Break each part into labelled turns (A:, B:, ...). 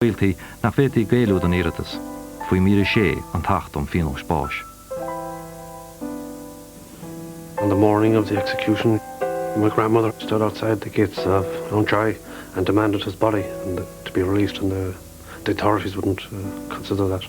A: Gaeilge nach bhféadfaí Gaelú don iarratas, faoi mhír 6 an tAcht um Phionóis Báis.
B: On the morning of the execution my grandmother stood outside the gates of Loungtree and demanded his body and to be released and the the authorities wouldn't consider that.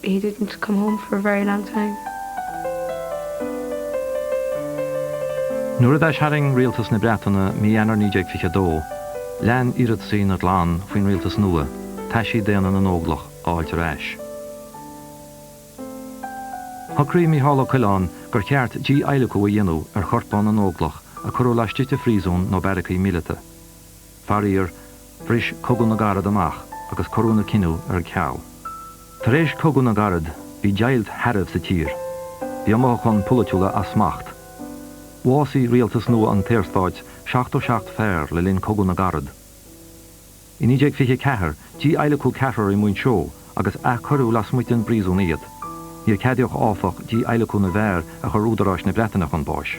C: He didn't come home for a very long
A: time. Nuair a d'aistarraing Rialtas na Breataine mí Eanáir 1922, lean iarrataisí na gclann faoin rialtas nua, taisí daonna na nÓglach a fháilt ar ais. Shocraigh Micheál Ó Coileáin gur cheart dí-adhlacadh a dhéanamh ar chorpáin na nÓglach a cuireadh laistigh de phríosún nó beairicí míleata. Faraor, bhris Cogadh na gCarad amach agus cuireadh an cinneadh ar ceal. Tar éis Cogadh na gCarad, bhí deighilt shearbh sa tír. Bhí na mothúcháin polaitiúla as smacht. Bhásaigh rialtas nua an tSaorstáit 77 fear le linn Cogadh na gCarad. I 1924, dí-adhlacadh ceathrar i Muinseo agus athchuireadh lasmuigh den bpríosún iad. Níor ceadaíodh, áfach, dí-adhlacadh na bhfear a chuir údaráis na Breataine chun báis.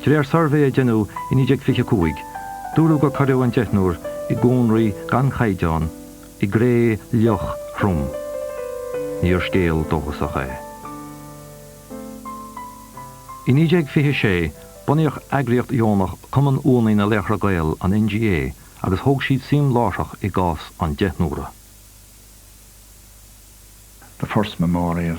A: De réir suirbhé a deineadh i 1925, dúradh gur cuireadh an deichniúr i gcónraí gan chaighdeán i gcré fhliuch throm. Níor scéal dóchasach é. I 1926, bunaíodh eagraíocht dheonach Cumann Uaigheannaí na Laochra Gael, an NGA, agus thóg siad suim láithreach i gcás an deichniúra. The
D: first memorial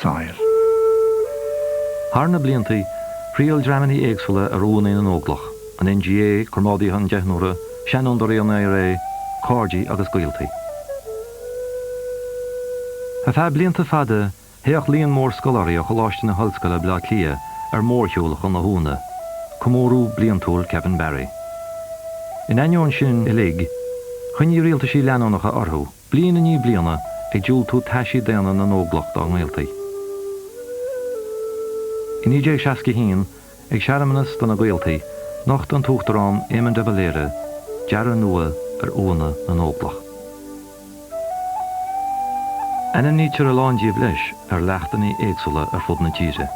A: soil. Thar na bliantaí, thriall dreamannaí éagsúla ar uaigheannaí na nÓglach, an NGA, comrádaithe an Deichniúra, Seanfhondúirí an IRA, Cairde agus Gaoltaí. Ar feadh blianta fada, théadh líon mór scoláirí ó Choláiste na hOllscoile Bleá Cliath ar mórshiúl chun na huaigheanna, Comóradh Bliantúil Kevin Barry. In ainneoin sin uilig, choinnigh rialtaisí leanúnacha orthu. Bliain i ndiaidh bliana, ag diúltú taisí daonna na nÓglach dá ngaoltaí. I 1961, ag searmanas do na gaoltaí, nocht an tUachtarán Éamon de Valera dearadh nua ar Uaigheanna na nÓglach. Ainmnítear a lán díobh leis ar leachtannaí éagsúla ar fud na tíre.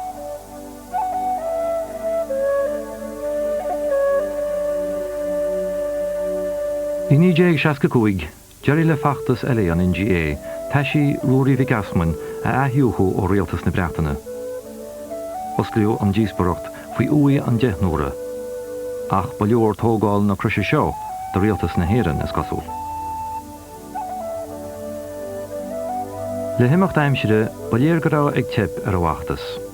A: I 1965, D'éirigh le feachtas eile an NGA, taisí Ruairí Mhic Easmainn a athdhúichiú ó Rialtas na Breataine. Osclaíodh an díospoireacht faoi uaigh an deichniúra. Ach ba leor tógáil na croise seo do Rialtas na hÉireann, is cosúil. Le himeacht aimsire, ba léir go raibh ag teip ar an bhfeachtas.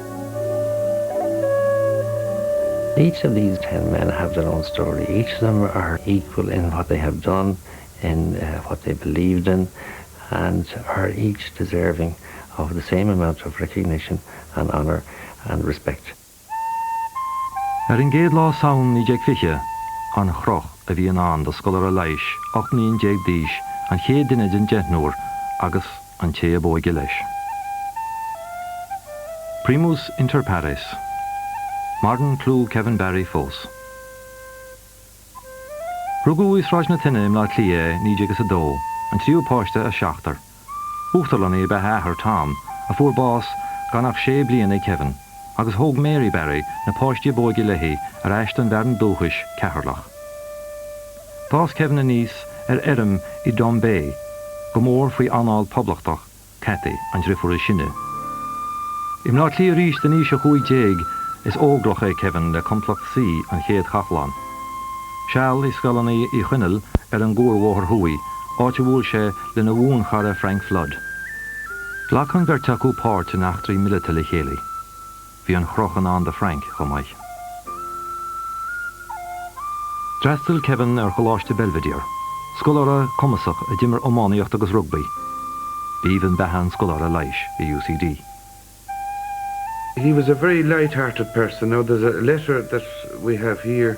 E: Each of these ten men have their own story, each of them are equal in what they have done, in what they believed in, and are each deserving of the same amount of recognition and honour and respect. Ar
A: an gcéad lá Samhain 1920, an chroch a bhí i ndán do scoláire leighis 18 mbliain d'aois, an chéad duine den deichniúr, agus, an té ab óige leis. Primus inter pares. Maireann clú Kevin Barry fós. Rugadh i Sráid na Toinne i mBleá Cliath é i 1902, an tríú páiste as seachtar. Uachtarlannaí ab ea a athair Tom, a fuair bás gan ach sé bliana ag Kevin, agus thóg Mary Barry na páistí ab óige léi ar ais don bhfearann dúchais, Ceatharlach. D'fhás Kevin aníos ar fheirm i dTombeagh, go mór faoi anáil poblachtach Kathy, an driofúr is sine. I mBleá Cliath arís dó in aois a chúig déag is óglach é Kevin le Complacht C, An Chéad Chathlán. Seal i Scoileanna Uí Chonaill ar an gCuarbhóthar Thuaidh, áit a bhuail sé lena bhuanchara Frank Flood. Ghlac an bheirt acu páirt in eachtraí mileata le chéile. Bhí an chroch i ndán do Frank chomh maith. D'fhreastail Kevin ar Choláiste Belvedere, scoláire cumasach a d'imir iománaíocht agus rugbaí. B'aoibhinn beatha an scoláire leighis i
F: UCD. He was a very light-hearted person. Now there's a letter that we have here.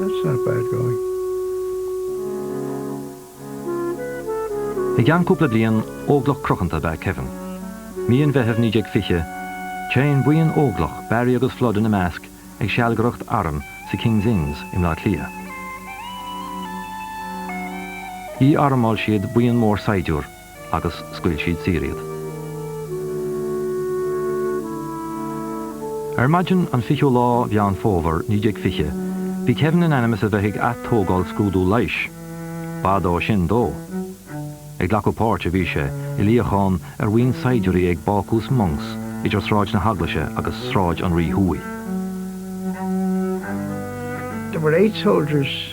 G: That's not bad going.
A: I gceann cúpla bliain, óglach cruthanta ab ea Kevin. Mí an Mheithimh 1920, téann buíon óglach, Barry agus Flood ina measc, ag sealgaireacht arm sa King's Inns i mBleá Cliath. Dhí-armáil siad buíon mór saighdiúr, agus scaoil siad saor iad. Ar maidin an 20ú lá Mheán Fómhair 1920, bhí Kevin in ainm is a bheith ag ath-tógáil scrúdú leighis. B'fhada ó sin dó. Ag glacadh páirt a bhí sé, i luíochán ar bhuíon saighdiúirí ag Bácús Monks idir Sráid na hEaglaise agus Sráid an Rí Thuaidh. There
G: were eight soldiers.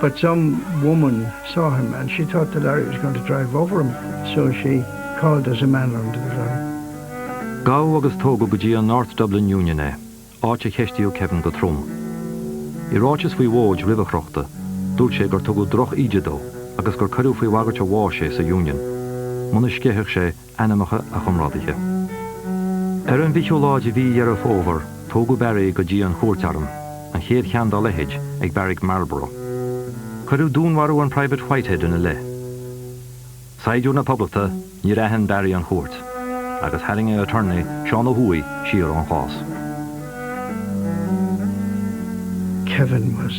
G: but some woman saw him and she thought the lorry was going to drive over him so she called there's a man under the lorry. Gabhadh agus tógadh
A: go dtí an North Dublin Union é, áit a cheistíodh Kevin go trom. I ráiteas faoi mhóid roimh a chrochta, dúirt sé gur tugadh drochíde dó agus gur cuireadh faoi bhagairt a bháis é sa Union muna sceithfeadh sé ainmneacha a chomrádaithe. Ar an bhfichiú lá de mhí Dheireadh Fómhair, tógadh Barry go dtí an chúirt airm, an chéad cheann dá leithéid ag Beairic Marlborough. Cuireadh dúnmharú an Private Whitehead ina leith. Saighdiúir na Poblachta, níor aithin Barry an chúirt, agus tharraing a attorney, Seán Ó hUadhaigh, siar ón chás.
G: Kevin was.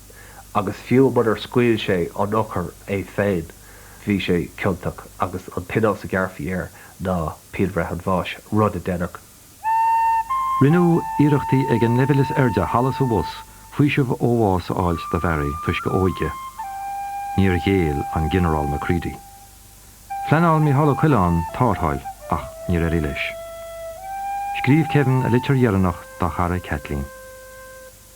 H: agus fiú munar scaoil sé an t-urchar é féin, bhí sé ciontach agus an pionós a ghearrfaí air ná pianbhreith an bháis, rud a deineadh.
A: Rinneadh iarrachtaí ag an leibhéal is airde thall is abhus faoiseamh ó bhás a fháilt do Bharry toisc a óige. Níor ghéill an Ginearál Macready. Phleanáil Micheál Ó Coileáin tártháil ach níor éirigh leis. Scríobh Kevin a litir dheireanach dá chara Kathleen.